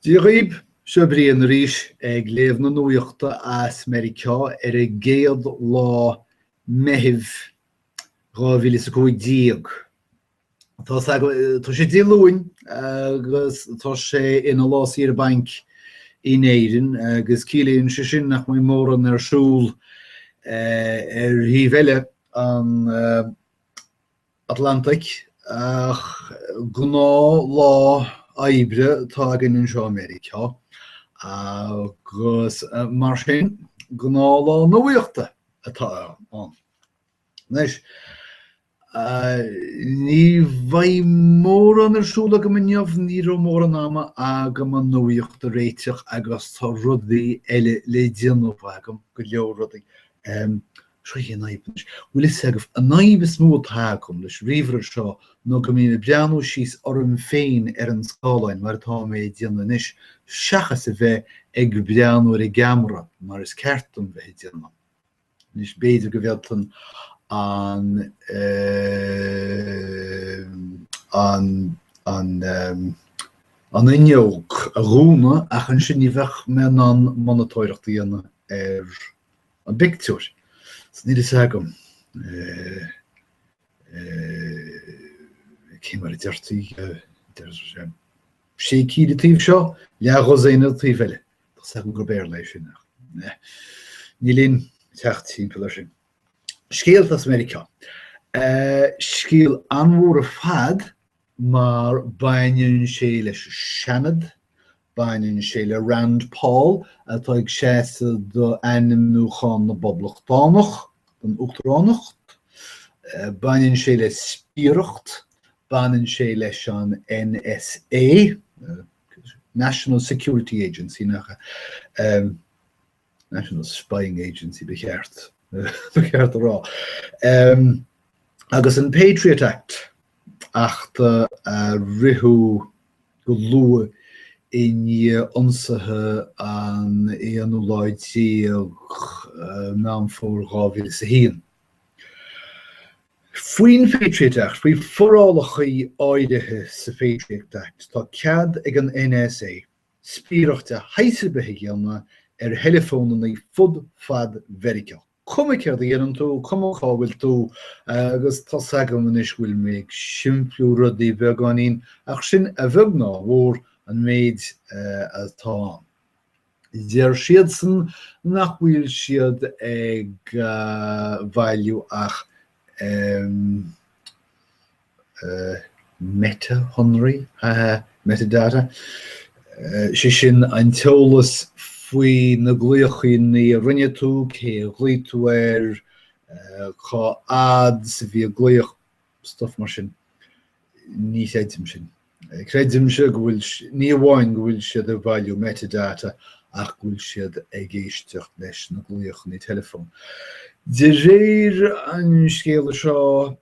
Dia dhaoibh, seo Brian arís ag léamh na nuachta as Meiriceá ar an gcéad lá Meithimh 2015. Tá sé Dé Luain agus tá sé ina lá saoire bainc in Éirinn agus ciallaíonn sé sin nach mbeidh mórán ar siúl ar thaobh eile an Atlantaigh, ach gnáthlá oibre atá againn anseo i Meiriceá, agus mar sin, gnáthlá nuaíochta atá ann. Anois, ní bheidh mórán ar siúl agam inniu, ní raibh mórán ama agam an nuaíocht a réiteach agus tá rudaí eile le déanamh agam, go leor rudaí. Sé an fhadhb anois, bhfuil fhios agaibh, an fhadhb is mó atá agam leis an ríomhaire seo ná go mbím ag breathnú síos orm féin ar an scáileán, mar atá mé ag déanamh anois, seachas a bheith ag breathnú ar an gceamara, mar is ceart dom bheith ag déanamh. Anois, b'fhéidir go bhféadfainn an, eh, an, an, eh, an fhuinneog a dhúnadh, ach ansin ní bheadh mé in ann monatóireacht a dhéanamh ar an bpictiúr. Is níl fhios agam cé mar a deir tú, sé cinn an taobh seo, leathdhosaen an taobh eile. Tá fhios agam gur Béarla é sin ach níl aon teacht timpeall air sin. Scéalta as Meiriceá. Scéal an-mhór ar fad mar baineann sé leis an Seanad, baineann sé le Rand Paul atá ag seasamh d'ainmniúchán na bPoblachtánach don Uachtaránacht, baineann sé le spiaireacht, baineann sé leis an NSA, National Security Agency, nach ea? National Spying Agency, ba cheart a rá, agus an Patriot Act, acht a ritheadh go luath i ndiaidh ionsaithe an 11ú Meán Fómhair 2001. Faoin Patriot Act, faoi forálacha áirithe sa Patriot Act, tá cead ag an NSA spiaireacht de shaghas ar bith a dhéanamh ar theileafónannaí fud fad Mheiriceá. Cuma céard a dhéanann tú, cuma cá bhfuil tú, agus tá's agam anois go bhfuil mé ag simpliú rudaí beagáinín, ach sin, a bheag ná a mhór, an méid atá ann. Deir siadsan nach bhfuil siad ag bailiú ach, em, meiteashonraí, metadata, sé sin an t-eolas faoi na glaochaíní a rinne tú, cé a ghlaoigh tú ar, cá fhad 's a bhí an glaoch, stuff mar sin. Ní chreidimse sin. Creidimse go bhfuil, ní amháin go bhfuil siad ag bailiú metadata ach go bhfuil siad ag éisteacht leis na glaochanna teileafóin. De réir an scéala seo,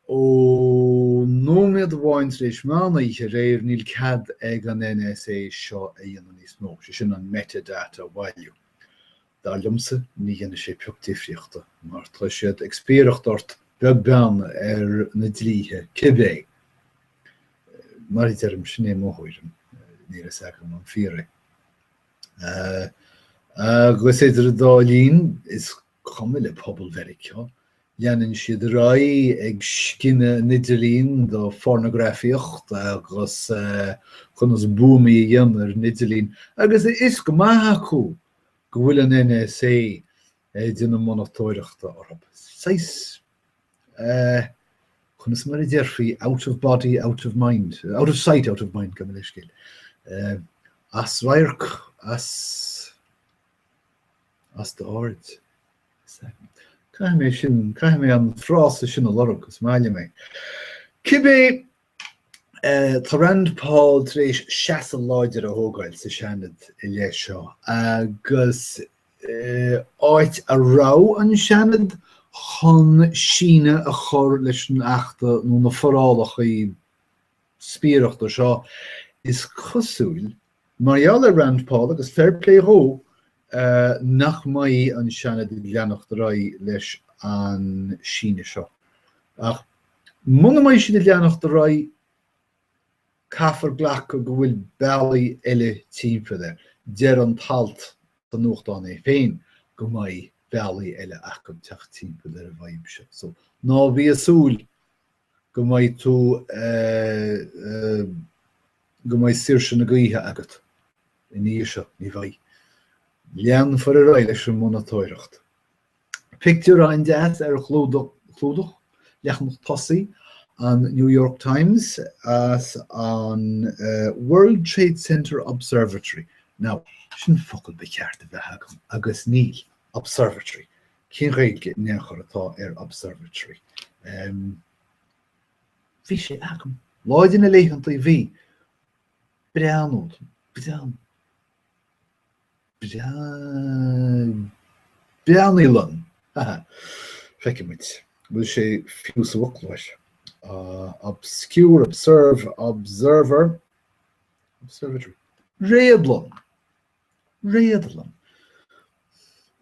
Ó nóiméad amháin tar éis mheán oíche aréir níl cead ag an NSA seo a dhéanamh níos mó, sé sin an metadata a bhailiú. Dar liomsa ní dhéanfaidh sé pioc difríochta mar tá siad ag spiaireacht ort beag beann ar na dlíthe cibé. Mar a deirim, sin é mo thuairim, níl a fhios agam an fíor é. Agus idir an dá linn is cuma le pobal Mheiriceá, leanann siad ar aghaidh ag scinneadh an idirlíon do phornagrafaíocht agus conas buamaí a dhéanamh ar an idirlíon, agus a fhios go maith acu go bhfuil an NSA ag déanamh monatóireachta orthu. Saghas, conas mar a déarfaí, out of body, out of mind, out of sight, out of mind, gabh mo leithscéal. As radharc, as... as d'aird. Caithfidh mé sin, caithfidh mé an frása sin a lorg 'cause is maith liom é. Cibé, tá Rand Paul tar éis seasamh láidir a thógáil sa Seanad i leith seo agus áit a raibh an Seanad chun síneadh a chur leis an achta nó na forálacha spiaireachta seo, is cosúil Mar gheall ar Rand Paul, agus fair play dhó, nach mbeidh an Seanad ag leanacht ar aghaidh leis an síneadh seo. Ach muna mbeidh siad ag leanacht ar aghaidh, caithfear glacadh go bhfuil bealaí eile timpeall air. Deir an t-alt sa nuachtán é féin go mbeidh bealaí eile ag teacht timpeall ar an bhfadhb seo. So, ná bí ag súil go mbeidh tú go mbeidh saoirse na gaoithe agat ina dhiaidh seo. Ní bheidh. Leanfar ar aghaidh leis an monatóireacht. Pictiúr an-deas ar chlúdach leathanach tosaigh an New York Times as an World Trade Center Observatory. Now, sin focal ba cheart a bheith agam, agus níl. Observatory. Cén Ghaeilge in aon chor atá ar Observatory? Em. Bhí sé agam. Lá de na laethanta bhí. Breathnú. Breathnú. Breath. Breathnlann. Ha ha. Feicfidh muid. Bhfuil sé fiú sa bhfoclóir? Obscure, observe, observer, observatory. Réadlann. Réadlann.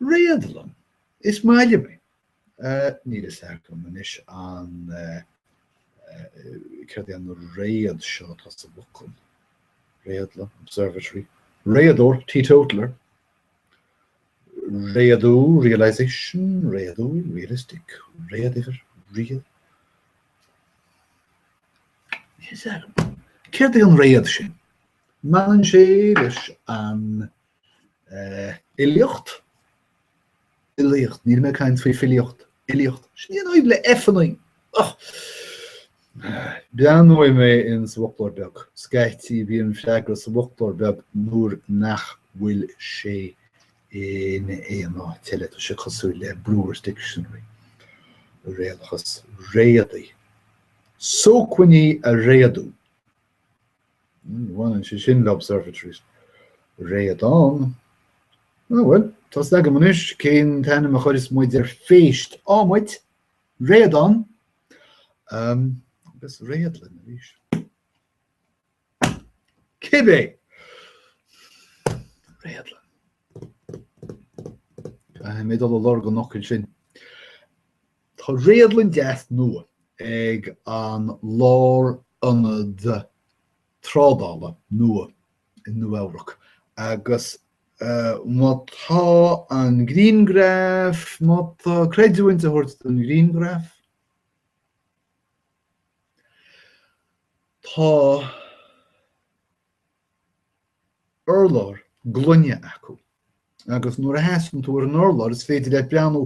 Réadlann. Is maith liom é. Níl fhios agam anois an céard é an réad seo atá sa bhfocal. Réadlann, observatory. Réadóir, teetotaler. Réadú, realisation. Réadúil, realistic. Réaduimhir, real. Níl fhios agam. Céard é an réad sin? mbaineann sé leis an oibiachtúlacht, oilíocht, níl mé ag caint faoi filíocht, oilíocht, sin í an fhadhb le F, an H! Breathnóidh mé ins an bhfoclóir beag, scaití bíonn freagra sa bhfoclóir beag nuair nach bhfuil sé in aon áit eile, tá sé cosúil le Brewer's Dictionary, réalachas réadaí, sócmhainní a réadú. Ní bhaineann sé sin le Observatories Réadán. Á bhuel, tá a fhios agam anois cén t-ainm a chuireas muid ar phéist. adhmaid, Réadán. Agus Réadlann arís. Cibé! Réadlann. Caithfidh mé dul a lorg an fhocail sin. Tá réadlann deas nua ag an lárionad trádála nua i Nua-Eabhrac agus má tá an grianghraf, má tá creidiúint le tabhairt don ghrianghraf, tá. urlár gloine acu agus nuair a sheasann tú ar an urlár is féidir leat breathnú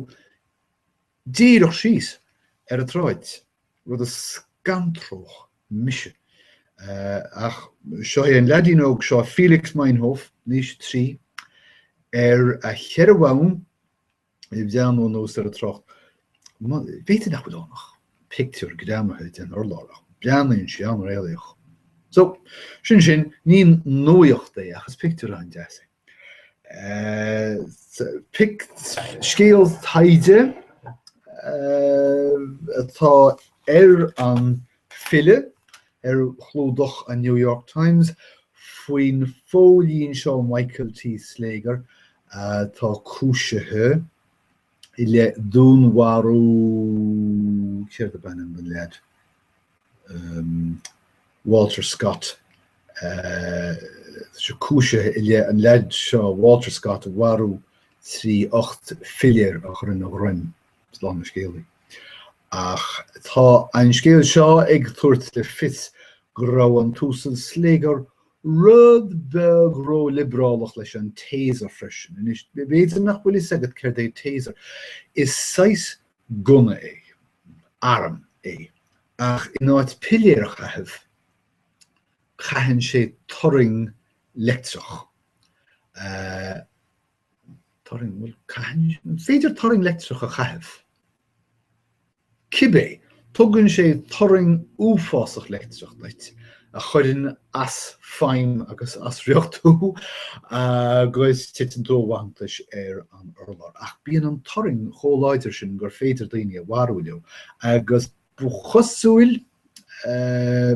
díreach síos ar an tsráid, rud a scantródh mise. Ach seo é an leaidín óg seo, Felix Meinhof, in aois a trí, ar a cheithre bhonn, ag breathnú anuas ar an trácht. B'fhéidir nach bhfuil ann ach pictiúr greamaithe den urlár, ach breathnaíonn sé an-réalaíoch. So, sin sin, ní nuaíocht é ach is pictiúr a-an deas é. Scéal taighde atá ar an bhfilleadh ar chlúdach an New York Times faoin bpóilín seo Michael T. Slager atá cúisithe i leith dúnmharaithe, céard ab ainm don leaid? Walter Scott, tá sé cúisithe i leith an leaid seo, Walter Scott, a mharú trí ocht bpiléar a chur ina dhroim, slán na scéalaí. Ach tá an scéal seo ag tabhairt le fios go raibh an tUasal Slager Rud beag ró-liobrálach leis an Taser freisin. Anois, b'fhéidir nach bhfuil a fhios agat céard é Taser. Is saghas gunna é, arm é, ach in áit piléir a chaitheamh, caitheann sé turraing leictreach. Turraing, bhuel, caitheann, is féidir turraing leictreach a chaitheamh. Cibé, tugann sé turraing uafásach leictreach duit a chuireann as feidhm agus as riocht thú agus titeann tú i bhfanntais ar an urlár. Ach bíonn an turraing chomh láidir sin gur féidir daoine a mharú leo agus ba chosúil, eh,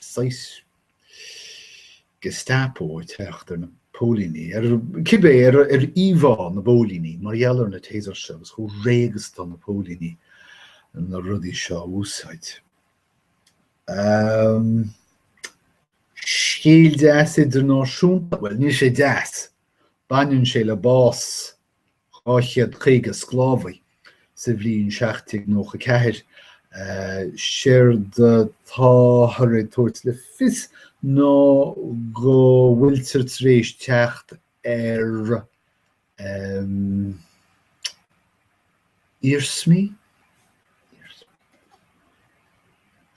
saghas Gestapo ag teacht ar na póilíní, ar cibé, ar íomhá na bpóilíní mar gheall ar na Tasers seo agus chomh réidh is atá na póilíní na rudaí seo a úsáid. Um, scéal deas idirnáisiúnta, bhuel, níl sé deas, baineann sé le bás 250 sclábhaí sa bhliain 1794. Séard atáthar ag tabhairt le fios ná go bhfuiltear tar éis teacht ar iarsmaí,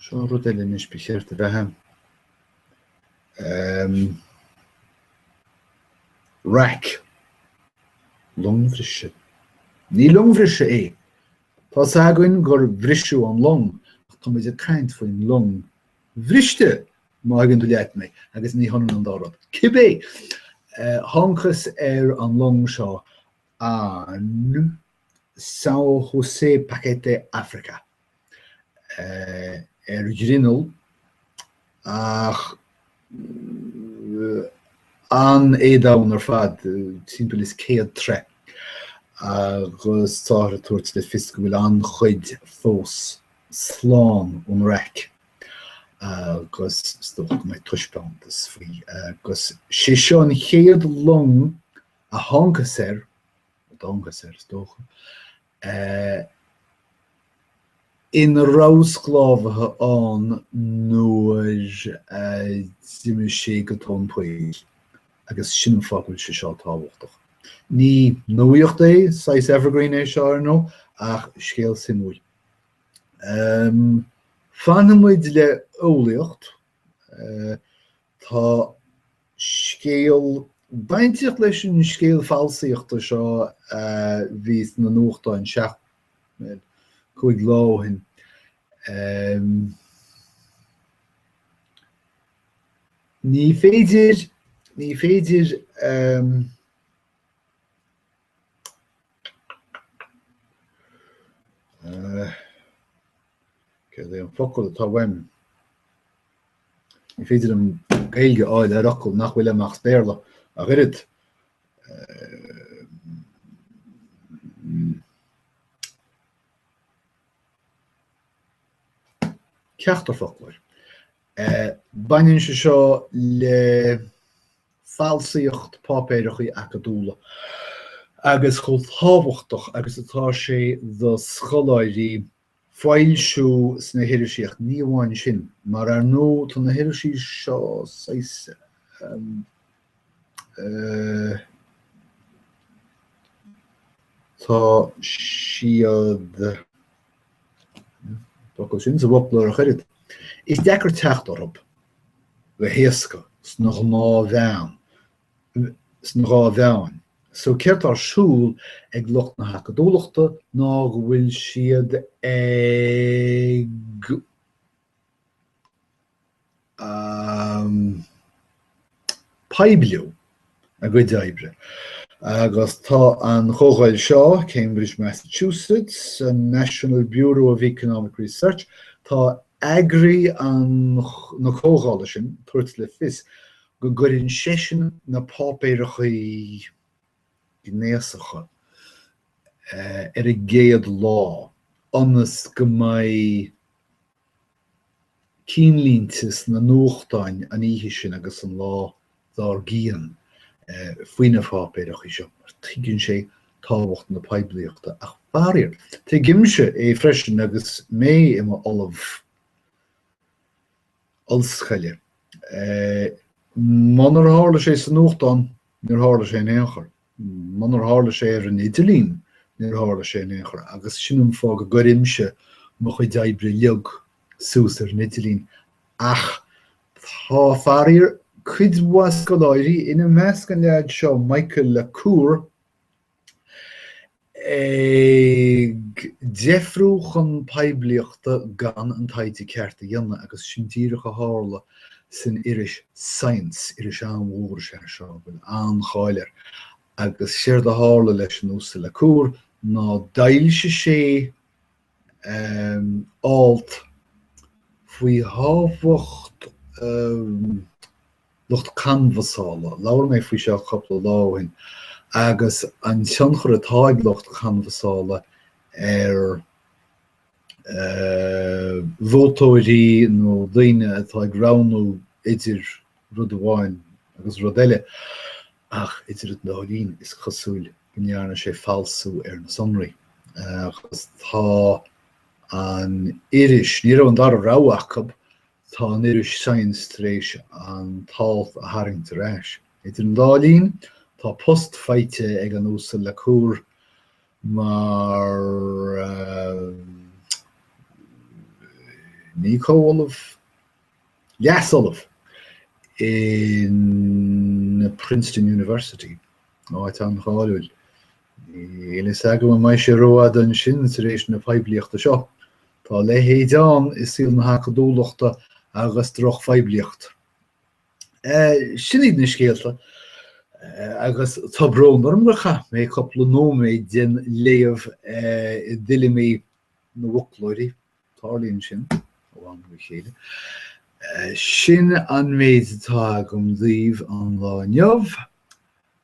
seo rud eile anois ba chéart a bheith ann, Ehm. Raic. Longbhriseadh. Ní longbhriseadh é. Tá a fhios againn gur briseadh an long, ach táimid ag caint faoin long bhriste, má thuigeann tú leat mé, agus ní hionann an dá rud. Cibé, thángthas ar an long seo an São José Paquete África. ar ghrinneall ach an-éadomhain ar fad, timpeall is céad troigh, agus táthar ag tabhairt le fios go bhfuil an-chuid fós slán ón raic agus is dócha go mbeidh taispeántas faoi agus sé seo an chéad long a thángthas air, a dtángthas air is dócha, ina raibh sclábhaithe ann nuair a d'imigh sé go tóin poill, agus sin an fáth go bhfuil sé seo tábhachtach. Ní nuaíocht é, saghas evergreen é seo, ar ndóigh, ach scéal suimiúil. Fanfaidh muid le heolaíocht, Tá scéal bainteach leis an scéal falsaíochta seo a bhí sna nuachtáin an tseacht, cúig lá ó shin. Ní féidir ní féidir Céard é an focal atá uaim? Ní féidir liom Gaeilge a fháil ar fhocal nach bhfuil agam as Béarla ach oiread. Ceachtar foclóir. Baineann sé seo le. falsaíocht páipéireachaí acadúla, agus chomh tábhachtach agus atá sé do scoláirí foilsiú sna hirisí, ach ní amháin sin, mar ar ndóigh tá na hirisí seo saghas, eh. tá siad. Focal sin sa bhfoclóir ach oiread, is deacair teacht orthu go héasca sna gnáthmheáin. So céard atá ar siúl ag lucht na hacadúlachta ná go bhfuil siad ag. um poibliú a gcuid oibre. Agus tá an chomhdháil seo, Cambridge, Massachusetts, an National Bureau of Economic Research, tá eagraí an na comhdhála sin ag tabhairt le fios go gcuireann seisean na páipéireachaí gnéasacha ar an gcéad lá ionas go mbeidh cinnlínte sna nuachtáin an oíche sin agus an lá dár gcionn faoi na páipéireachaí seo mar tuigeann sé tábhacht na poiblíochta ach faraor, tuigimse é freisin agus mé i m'ollamh. ollscoile. Munar tharla sé sa nuachtán, níor tharla sé in aon chor. Munar tharla sé ar an idirlíon, níor tharla sé in aon chor. Agus sin an fáth go gcuirimse mo chuid oibre uilig suas ar an idirlíon. Ach tá, faraor, cuid mhaith scoláirí, ina measc an leaid seo, Michael LaCour, ag deifriú chun poiblíochta gan an taighde ceart a dhéanamh agus sin díreach a tharla san iris Science, iris an-mhór is ea seo a bhfuil an-cháil air, agus séard a tharla leis an Uasal LaCour ná d'fhoilsigh sé alt faoi thábhacht lucht canbhasála, labhair mé faoi seo cupla lá ó shin, agus an tionchar atá ag lucht canbhasála ar vótóirí nó daoine atá ag roghnú idir rud amháin agus rud eile. Ach idir an dá linn, is cosúil go ndearna sé falsú ar na sonraí, agus tá an iris, ní raibh an dara rogha acu, tá an iris Science tar éis an t-alt a tharraingt ar ais. Idir an dá linn, tá post faighte ag an Uasal LaCour mar, ní comhollamh, Leas-ollamh in Princeton University, áit an-cháiliúil. Níl a fhios agam an mbeidh sé rófhada ansin tar éis na poiblíochta seo. Tá a leithéid ann i saol na hacadúlachta agus drochphoiblíocht. Sin iad na scéalta agus tá brón orm gur chaith mé cúpla nóiméad den léamh i dtuilleamaí na bhfoclóirí. Tarlaíonn sin, ó am go chéile. Sin an méid atá agam daoibh an lá inniu,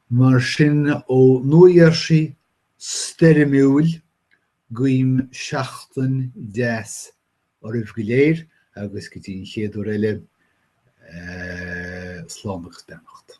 mar sin, ó Nua Gheirsí stoirmiúil, guím seachtain deas oraibh go léir, agus go dtí an chéad uair eile, slán agus beannacht.